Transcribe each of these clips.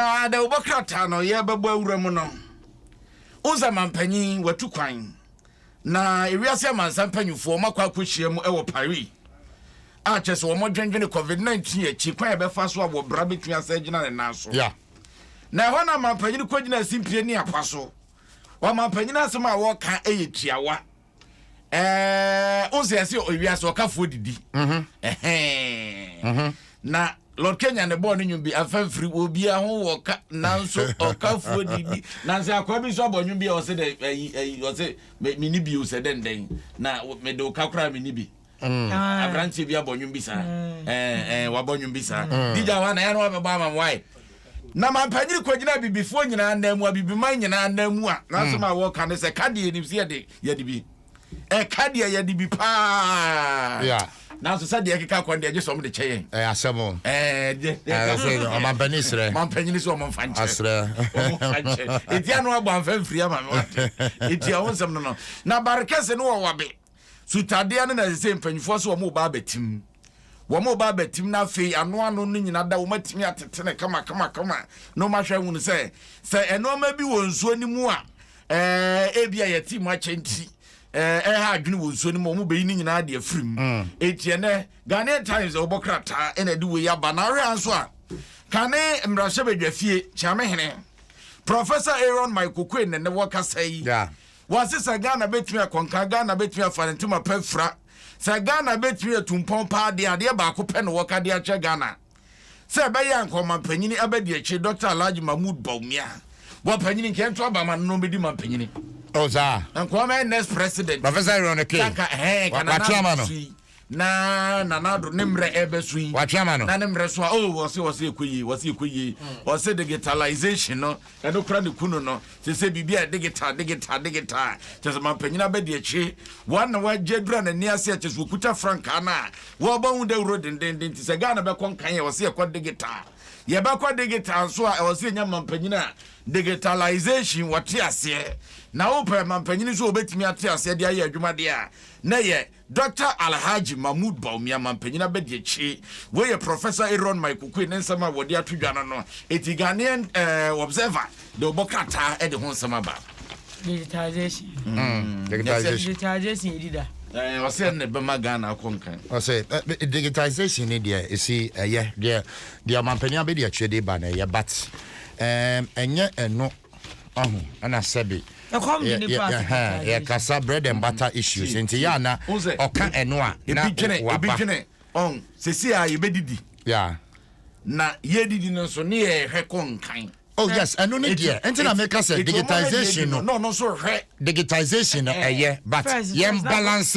Aa dɛ wobɔ krataa no yɛ bɛbɔ awura mu no wohu sɛ mampanyin watu kwan na ewiase amansan mpanyinfoɔ wɔn akɔ akɔhyia mu wɔ Paris a kyerɛ sɛ wɔn dwendwene covid 19 akyi kwan a ɛbɛfa so a wɔ bra bɛtumi asɛ agyina ne nan so yeah. na ɛhɔ na mampanyin kɔgyina asimpie ne apa so wɔn mampanyin asɛm a wɔka yɛ tiawa ɛɛ o sɛ ɛsɛ ewia so ɔkafoɔ didi mhm. ɛhɛn mhm. na lord kenya ne bɔɔl ne nwom bi afɛnfiri obi aho wɔ ka nanso ɔkafoɔ didi nanso akɔa bi nso abɔ nwom bi a ɔsɛ dɛ ɛyi ɛyi ɔsɛ mɛ mi ni bi o sɛ dɛndɛn na mɛ de o ka koraa mi ni bi. Mm. Ah, aberanteɛ bi abɔ nnwom bi saa mm. eh, eh, wabɔ nnwom bi saa mm. digya hɔ anayɛ no wabɛbɔ ama m wae na mampanyere kwagyina abibifoɔ nyinaa nan mu abibiman nyinaa nan mu a nanso ma wɔka no sɛ ka deɛ ɛnim sɛ yɛde yɛde bi ɛka deɛ yɛde bi paa nanso sɛ deɛ ɛkeka kwan deɛ gye sɛ ɔmde kyɛ yɛn ɛyɛ asɛm ɔmampani serɛ mampanyini sɛ ɔmfa nkyerɛ ɛtia no abɔ amfa mfiri ama me wate ɛtia wo nsɛm no no na barekɛse no wɔwabe Sutadeɛ no na ɛsɛ sɛ mpanyinfoɔ sɛ wɔn ba abɛtim. Wɔn ba abɛtim na afei ano ano no nyina da wɔn atumi atete no kama kama kama na wɔn ahwɛ ahunu sɛ sɛ nneɛma bi wɔ nsuo no mu a ɛɛ ebi a yɛte mu akyɛ nti ɛɛ ɛha adwene wɔ nsuo no mu wɔn bɛyi ne nyinaa de afiri mu. Mm. Eti ɛnɛ Ghanaian Times ɛwɔ bɔ krataa ɛna ɛde wɔ yi aba na awɛ nso a kane mmarahyɛbadwafie kyɛmɛhene Professor Aaron Michael Quinn na ɛnɛ wɔkasa yi. Yeah. Wɔse sɛ Ghana bɛtumi akɔ nka, Ghana bɛtumi afa ne ntoma pa afira. Sɛ Ghana bɛtumi atu mpɔn paa deɛ a, adeɛ baako pɛ na wɔka de akyerɛ Ghana sɛ ɛbɛyɛ anka ɔmampanyini abɛdi akyire, Dɔkta Alhaji Mahmood Bawumia. Bɔpanyini, nka yɛnto aba ama no na ɔmmɛdi mampanyini. Oh, saa? Anka ɔmmɛyɛ next president. Professor Ironic K. Nka, ɛhɛɛ, nka Nana Addo Suyi. Na Nana Addo ne mmerɛ ɛrebɛso yi. Watwe ama no. Na ne mmerɛ so a oh wɔse wɔse ɛkɔ yie wɔse ɛkɔ yie. Wɔse digitalization no ɛno kora ne ku no no. Sese biribi a digital digital digital. Kyerɛ sɛ manpanyin abɛdi akyi. Wɔn na wɔagye adura n'ani ase a kyerɛ sɛ wɔkuta frankaa no a wɔrebɔ ho dawuro dendenden. Nti sɛ Ghana bɛkɔ nkan a ɛwɔ sɛ yɛkɔ digital. Yɛbɛkɔ digital nso a ɛwɔ sɛ yɛnya manpanyin a digitalization wɔte aseɛ. Na wopɛ manpanyin nso a wɔbɛtumi ate aseɛ de ayɛ adwuma deɛ a na ɛyɛ Dɔkta Alhaji Mahmood Bawumia Mampanyin Abadiakyiri. Wei yɛ Professor Aaron Mai Kukui ne nsɛm a wɔde ato dwa no no eti Ghanaian eh, Observer de ɔbɔ krataa de ho nsɛm aba. Digitization. Mm. Digitization. Digitization yɛ dida. Eh, ɔsɛ ɛna ɛbɛma Ghana akɔ nkan. Ɔsɛ eh, digitization ne deɛ esi ɛyɛ deɛ deɛ Mampanyin Abadiakyiri de ba na ɛyɛ but eh, ɛnyɛ ɛno ahu ɛna sɛbi yɛ kasa bread and butter issues nti yɛ ana ɔka ɛno a na waba ebidwene ɔn sisi a yɛbɛdidi yeah na yɛdidi no nso ne yɛhwɛ kɔ nkan oh yes ɛno ne deɛ ɛnti na meka sɛ digitization no no no nso hwɛ digitization no ɛyɛ but yɛn balance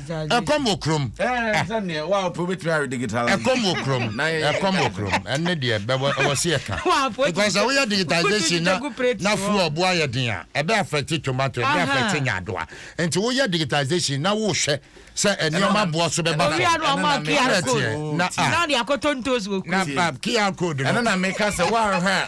ɛkɔm wɔ kurom. ɛkɔm wɔ kurom ɛkɔm wɔ kurom ɛne deɛ ɛwɔ se yɛka because sɛ woyɛ digitization na na fuel bo ayɛ den a ɛbɛ affect tomato ɛbɛ affect nyaadoa nti woyɛ digitization na wohwɛ sɛ nneɛma boɔ so bɛba fam ɛna ɛteɛ na a na QR code no ɛno na meka sɛ woanhwɛ a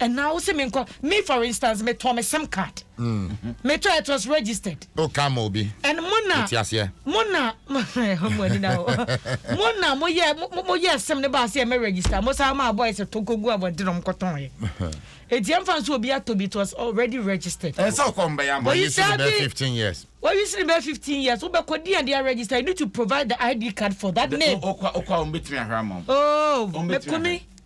ɛna wo se me nkɔ me for instance me tɔ me sim card mm. me tɔ it was registered o ka ma obi and mo na ti aseɛ mo na mo ani na o mo na mo yɛ mo yɛ sim ne ba aseɛ me register mo saa ma boys to ko gu abɔ de nom kɔtɔn yɛ eti ɛnfa nso obi atɔ bi it was already registered ɛsɛ ɔkɔ mbɛ yɛ ama oyi si ne bɛ fifteen years oyi si ne bɛ fifteen years wobɛ kɔ di ɛdi register you need to provide the id card for that name okwa okwa wɔn bɛ tumi ahwɛ ama wɔn ooo mɛkumi.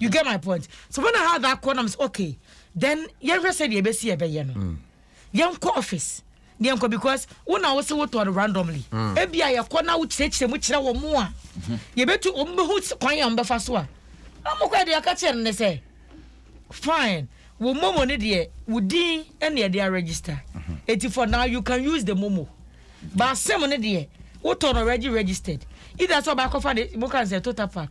you get my point so when i had that call i'm so okay then yɛnhwɛ sɛ deɛ ɛbɛsi ɛbɛyɛ no mm. yɛnkɔ office deɛ nkɔ because wo na wo se wotɔ no randomly mm. ebi a yɛkɔ na wokyerɛkyerɛ mu kyerɛ wɔn mu a mm-hmm. yɛbɛtu wɔn bɛhu kwan a wɔbɛfa so a wɔn kɔ deɛ aka kyerɛ no ne sɛ fine wo momo ne deɛ wo din ɛna yɛde aregister mm-hmm. eti for now you can use the momo baasɛm ne deɛ wotɔ no already registered either sɛ ɔbaakɔfa de mo kan sɛ total pack.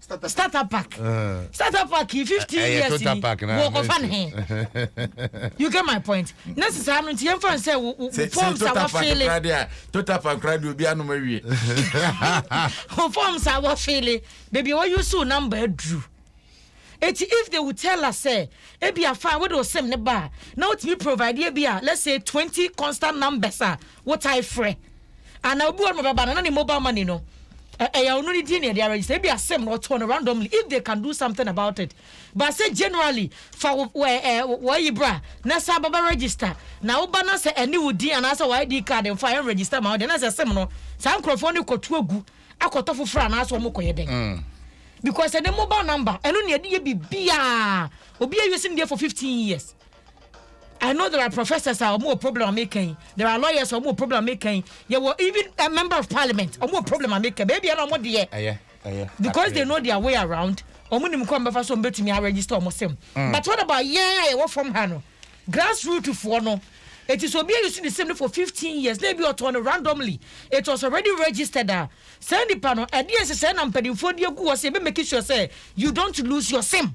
starter pack uh. starter pack yi fifteen uh, uh, years ni wɔ kɔfa ne he you get my point ne sisan no nti yɛn fa sɛ wo wo form sa wa feele total pack kura de obi anum awie wo form sa wa feele beebi a wɔ use wo number aduru eti if they would tell us sɛ ebi afa wo de o sim ne ba na o tumi provide ebi a let's say twenty constant numbers a wo ta efrɛ. And obi wɔ no bɛba no na ne mobile money no ɛyɛ ɔno ne din na yɛde aregister ebi asɛm na ɔtɔ no randomly if they can do something about it but sɛ generally fa wɔ ɛɛ wɔyi bra na sɛ ababa register na woba na sɛ ɛne wo din anaasɛ wɔ id card nfa ɛn register ma ɔde na sɛ sɛm no saa nkurɔfoɔ no kɔtu agu akɔtɔ foforɔ anaasɛ wɔn kɔyɛ dɛn mm. because ɛne mobile number ɛno na yɛde yɛ biribiara obi awie si ne deɛ for fifteen years. I know there are professors a wɔn wɔ problem a meka yi, there are lawyers a wɔn wɔ problem a meka yi, yɛwɔ even a member of parliament wɔn wɔ problem a meka baabi a na wɔn deɛ. Ɛyɛ. because they know their way around wɔn nim kwan bɛfa so wɔn bɛtumi aregister wɔn sɛm mm. but what about yɛn a yɛwɔ fam ha no grassroots foɔ no it is obi ayi so ne sɛm no for fifteen years na ebi ɔtɔn no randomly it was already registered a saa nipa no ɛdeɛ nsesɛɛ na mpanimfoɔ de agu hɔ sɛ ebe make sure sɛ you don't lose your sim.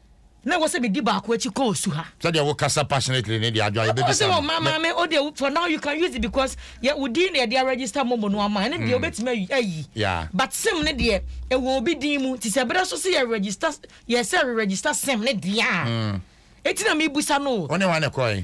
Na ɛwɔ sɛ medi baako akyi kɔ osu ha. Sɛdeɛ wo kasa passionately ne deɛ adwo a yɛbɛ bisa no. Ɔsɛ wɔ maa maa me o deɛ for now you can use it because yɛ wo din na yɛde a register momo no ama ɛne deɛ wobɛtumi ayi but sim ne deɛ ɛwɔ obi din mu nti sɛ ɛbɛda so sɛ yɛ register yɛ sɛ re register sim ne deɛ a ɛti na mebusa no o. Wo ne hwan na ɛkɔɛ?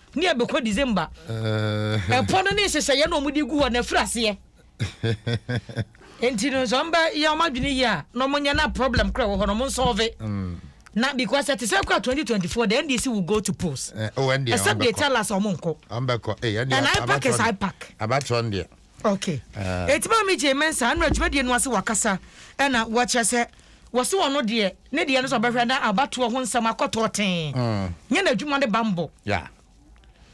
ne ɛbɛkɔ December. Eh. Ɛpɔ no ne nhyehyɛeɛ na wɔde gu hɔ na ɛfiri aseɛ. Nti no nso ɔmbɛ yɛ wɔn adwene yie a na wɔnyɛ na problem kora wɔ hɔ na wɔn nsɔɔve. Mm. Na because ɛte sɛ kora 2024 the NDC will go to polls. Eh, oh, NDC. Except they tell us wɔn nkɔ. Wɔn bɛkɔ. Eh, NDC. And I pack is I pack. Abatɔ NDC. Ok enti maame Jay Mensah ɛnora dwumadie no ase wakasa ɛna wakyerɛ sɛ wɔse ɔno deɛ ne deɛ no sɛ ɔbɛhwɛ na abatoɔ ho nsɛm akɔtɔɔ tee nyɛ n'adwuma ne bammɔ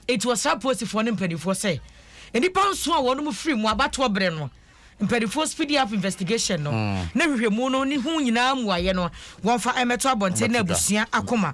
enti wɔsra apolisifoɔ ne mpanimfoɔ sɛ nnipa nson a wɔn mu firi mu abatoɔ berɛ no mpanimfoɔ speedy up investigation no ne hwehwɛmu no ne ho nyinaa mmuaeɛ no wɔmfa ɛmɛto abɔnten na abusua akoma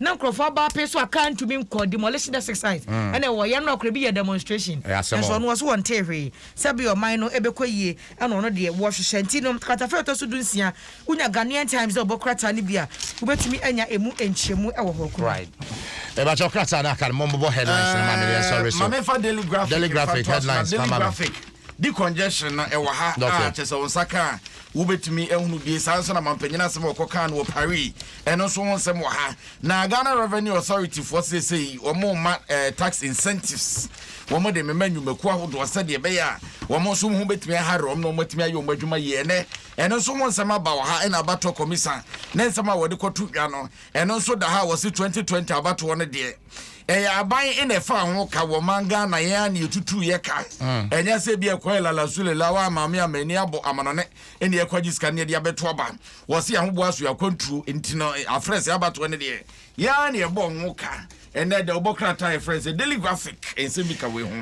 na nkurɔfo aba apee so a car ntumi nkɔ demolition the six sites mm. ɛna ɛwɔ yɛn no akora bi yɛ demonstration ɛsɛ ɔno wɔso wɔn tee hwee sɛbi ɔman no ɛbɛkɔ yie ɛna ɔno deɛ wɔhwehwɛ nti no takatafɛ ɛtɔ so dunsia wonya Ghanaian Times dɛ ɔbɔ krataa no bi a wobɛtumi anya emu nkyerɛmu ɛwɔ hɔ kuro right ɛbɛkyɛ krataa no aka no mɔmbobɔ headlines no ma meyɛ sɔre so mame fa daily graphic daily graphic headlines daily graphic Di congestion no ɛwɔ ha a kyerɛ sɛ wo nsa ka a wobɛtumi ahunu bie saa nso na mampanyin asɛm a ɔkɔ kaa no wɔ Paris ɛno nso ho nsɛm wɔ ha na Ghana Revenue Authority foɔ seesei wɔn mma eh, tax incentives wɔn de mema nnwumakuo ahodoɔ sɛdeɛ ɛbɛyɛ a wɔn nso ho bɛtumi ahare wɔn na wɔn atumi ayɛ wɔn adwuma yie ɛnɛ ɛno nso ho nsɛm aba wɔ ha ɛna abatoɔ kɔmisa ne nsɛm a wɔde kɔto dwa no ɛno nso da ha a wɔse 2020 abatoɔ no deɛ Ɛyɛ aban na ɛfaa ho ka wɔ man Ghana yɛn a nea ɛtutuu yɛ ka. Ɛnyɛ sɛ bi a ɛkɔyɛ lala su lela waa maame a m'ani abɔ amanɔne ɛne ɛkɔgye sika ne ɛde abɛto aba. Wɔse ahoboa soɛ akwantuo nti no afrɛ sɛ abatoɔ no deɛ yɛn a na yɛbɔ ho ka. Ɛnnɛ da wobɔ krataa a yɛfrɛ no sɛ daily graphic nsɛm bi ka wei ho.